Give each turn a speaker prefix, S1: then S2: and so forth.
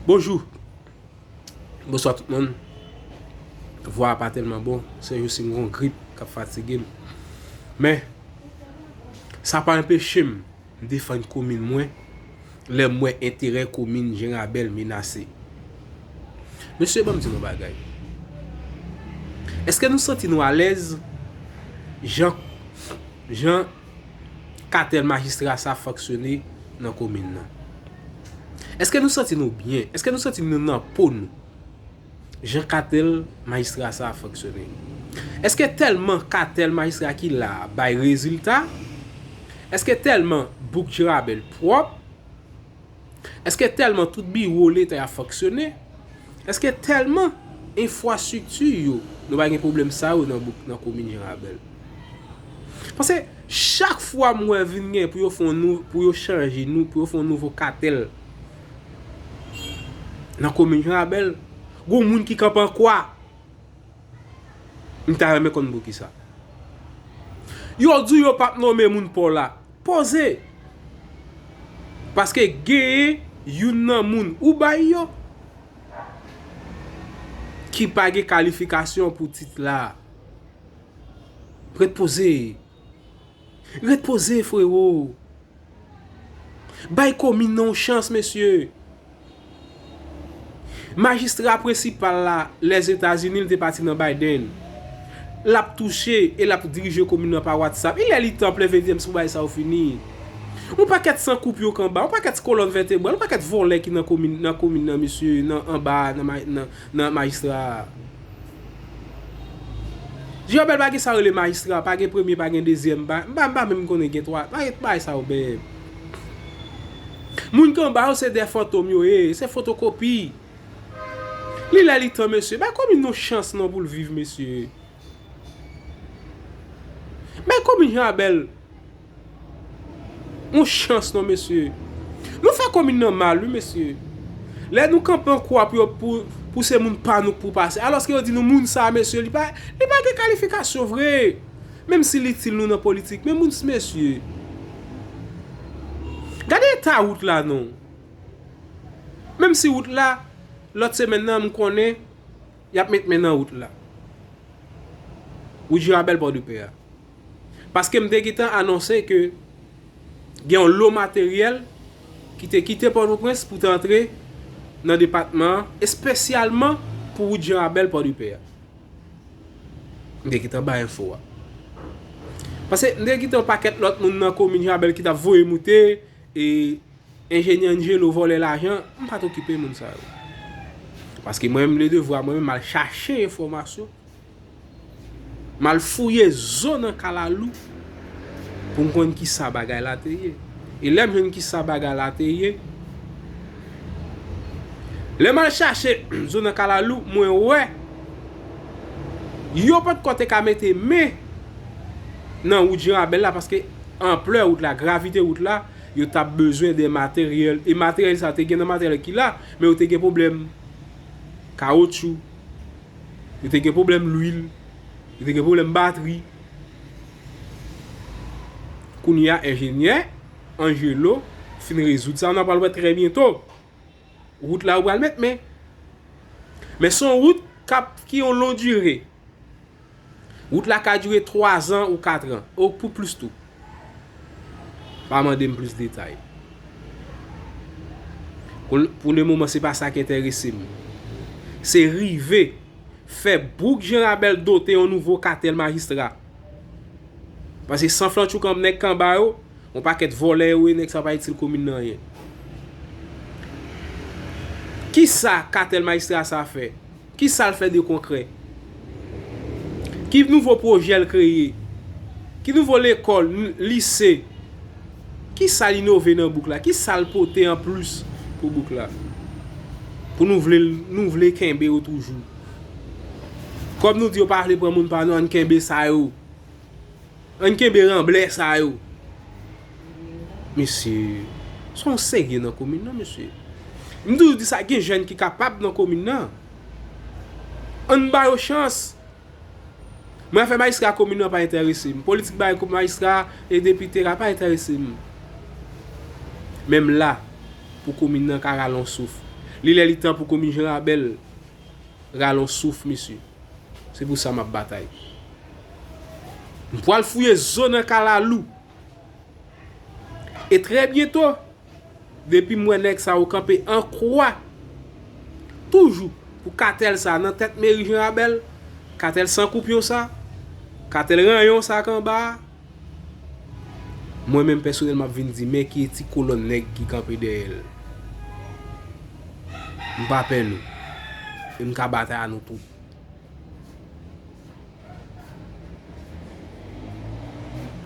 S1: Bonjou Bonswa tout moun Vwa a pa tèlman bon Se jous si m gon grip k ap fatige m Men Sa pa enpeche m defann komin mwen Lè m wè enterè komin Jenrabèl menase Mesye banm di nou bagay Eske nou santi nou alèz Jan Jan katèl majistra sa fonksyone nan komin nan. Eske nou santi nou byen? Eske nou santi nou nan po nou? Jan katèl majistra sa a fonksyone. Eske tèlman katèl majistra ki la a bay rezilta? Eske tèlman bouk Jirabèl pwòp? Eske tèlman tout biwo leta ap fonksyone? Eske tèlman enfwastrikti yo nou pa gen pwoblèm sa yo nan komin Jan-Rabèl? Pase chak fwa m wè vin gen pou yo fon nou, pou yo chanje nou, pou yo fon nouvo katèl nan komin Jan-Rabèl, gon moun ki kanpe an kwa. M ta renmen konn poukisa. Yo di yo pap nome moun Pola. Poze! Paske genyen youn nan moun ou bay yo ki pa gen kalifikasyon pou tit la. Ret poze! Ret poze frero! Bay komin nan yon chans mesye! Majistra prensipal la Lèzetazini li te pati nan Biden. L ap touche e l ap dirije komin nan pa WhatsApp. Il est li tan plen vendyèm si pou bagay sa yo fini. Yon pakèt san kou pyo kanba, yon pakèt kolòn vètebral, yon pakèt vòlè ki nan komin nan mesye, nan anba a nan majistra a. Jobert pa gen sa rele majistra, pa gen premye pa gen dezyèm, m pa menm konnen gen 3, pa gen bagay sa yo bèèb. Moun ki anba yo se 2 fantom yo ye, se fotokopi. Li lè li tan mesye, bay komin yon chans non pou l viv mesye. Bay komin Jean Abel. On chans non mesye. Nou fè komin nan mal wi mesye. Lè nou kanpe an kwa pou yo pou se moun pa nou k pou pase. Alòske yo di nou moun sa mesye li pa li pa gen kalifikasyon vre. Menm si l itil nou nan politik. Men moun s mesye. Gade eta wout la non. Menm si wout la lòt semèn nan m konnen y ap met men nan wout la. Wout Jirabèl Pòdepè a. Paske m te gentan anonse ke gen yon lo materyèl ki te kite Pòtoprens pou te antre nan depatman an, espesyalman pou wout Jan Rabèl Pòdepè a. M te gentan bay enfo a. Pase m te gentan yon pakèt lòt moun nan komin Jan Rabèl ki t ap voye moute, e enjenyè Angelo vòlè lajan, m pa t okipe moun sa yo. Paske mwen menm, le devwa mwen menm al chache enfòmasyon. M al fouye zo nan kalalou pou m konn ki sa bagay la te ye. E lè m jwenn ki sa bagay la te ye, lè m al chache zo nan kalalou, mwen wè yo pa t ko te ka mete men nan wout Janrabèl la paske anplè wout la, gravite wout la, yo ta bezwen de materyèl. E materyèl sa te gen nan materyèl ki la, men yo te gen pwoblèm kawotchou. Yo te gen pwoblèm lwil. Yo te gen pwoblèm batri. Kounye a enjenyè Angelo fin rezoud sa. N a pral wè trè byento. Wout la yo pral met men. Men son wout kap ki yon lon dire. Wout la ka dire 3 zan ou 4 ran. Ou pou plis tou. Pa mande m plis detay. Pou le moman se pa sa ki enterese m. Se rive fè bouk Janrabèl dote yon nouvo katèl majistra. Pase san flanch ou kanp nèg kanba yo, yon pakèt vòlè yo ye nèg sa pa itil komin nan anyen. Kisa katèl majistra sa fè? Ki sa l fè de konkrè? Ki nouvo pwojè l kreye? Ki nouvo lekòl, lise? Ki sa l inove nan bouk la? Ki sa l pote an plis pou bouk la? Pou nou vle l, nou vle kenbe yo toujou. Kòm nou di yo pa vle pran moun pa nou, ann kenbe sa yo. Ann kenbe ranblè sa yo. Mesye, se yon serye nan komin nan mesye. M toujou di sa gen jèn ki kapab nan komin nan. Ann ba yo chans. Mwen afè majistra komin nan pa entèrese m. Politik bay kou majistra e depite la pa entèrese m. Men m la pou komin nan ka rale yon souf. Li lè li tan pou komin Jan Rabèl rale on souf mesye. Se pou sa map batay. M pwal fouye zo nan kalalou. E trè byento, depi m wè nèg sa yo kanpe an kwa toujou pou katèl sa nan tèt meri Jan Rabèl, katèl san koupyon sa, katèl ranyon sa k anba a. Mwen menm pèsonèl map vin di men ki ti kolòn nèg ki kanpe dèyè l. M pa pè nou. E m ka batay a nou tout.